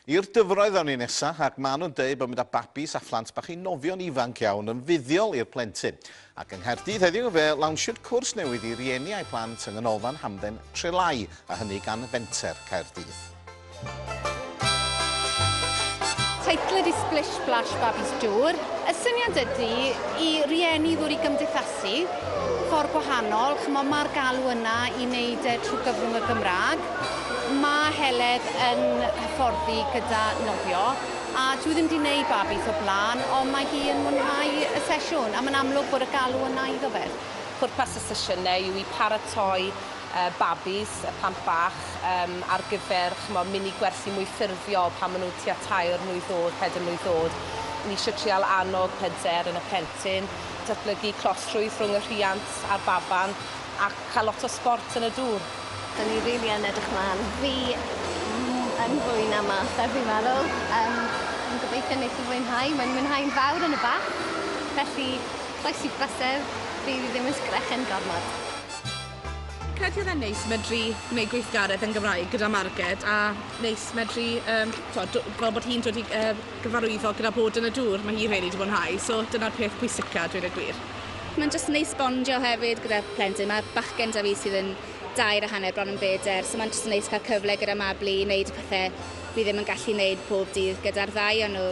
I'r dyfroedd awn ni nesa, ac ma' nhw'n deud bod mynd â babis a phlant bach i nofio'n ifanc iawn yn fuddiol i'r plentyn. Ac yng Nghaerdydd heddiw fe lawnsiwyd cwrs newydd i rieni a'u plant yng Nghanolfan Hamdden Trelái, a hynny gan Fenter Caerdydd. Teitl ydy Splish Splash Babis Dŵr. Y syniad ydy i rieni ddŵr i gymdeithasu, ffordd gwahanol, chymod mae'r galw yna i wneud e trwy gyfrwng y Gymraeg. Mae Heledd yn hyfforddi gyda nofio a dwi ddim wedi gwneud babis o blaen ond mae hi yn mwynhau y sesiwn a mae'n amlwg bod y galw yna iddo fe. Pwrpas y sesiynau yw i paratoi yy babis, y plant bach, yym ar gyfer ch'mo' mini gwersi mwy ffurfiol pan ma' nw tua tair mlwydd o'd, peder mlwydd o'd. Ni isio trial annog hyder yn y plentyn, datblygu closrwydd rhwng y rhiant a'r baban, a ca'l lot o sbort yn y dŵr. Da ni rili yn edrych mlan. Fi m- yn fwy na mas ar fi'n meddwl. Yym fi'n gobeithio neith e fwynhau. Mae'n mwynhau'n fawr yn y bath, felly croesi brysur, fydd 'i ddim yn sgrechen gormod. Credu oedd e'n neis medru gwneud gweithgaredd yn Gymraeg gyda Marged a neis medru yym t'wod do- fel bod hi'n dod i yy gyfarwyddo gyda bod yn y dŵr ma' hi rili 'di mwynhau so dyna'r peth pwysica a dweud y gwir. Mae'n jyst neis bondio hefyd gyda plentyn ma' bachgen 'da fi sydd yn dair a hanner bron yn beder so mae'n jyst yn neis cael cyfle gyda Mabli i wneud y pethe fi ddim yn gallu wneud pob dydd gyda'r ddau o nhw.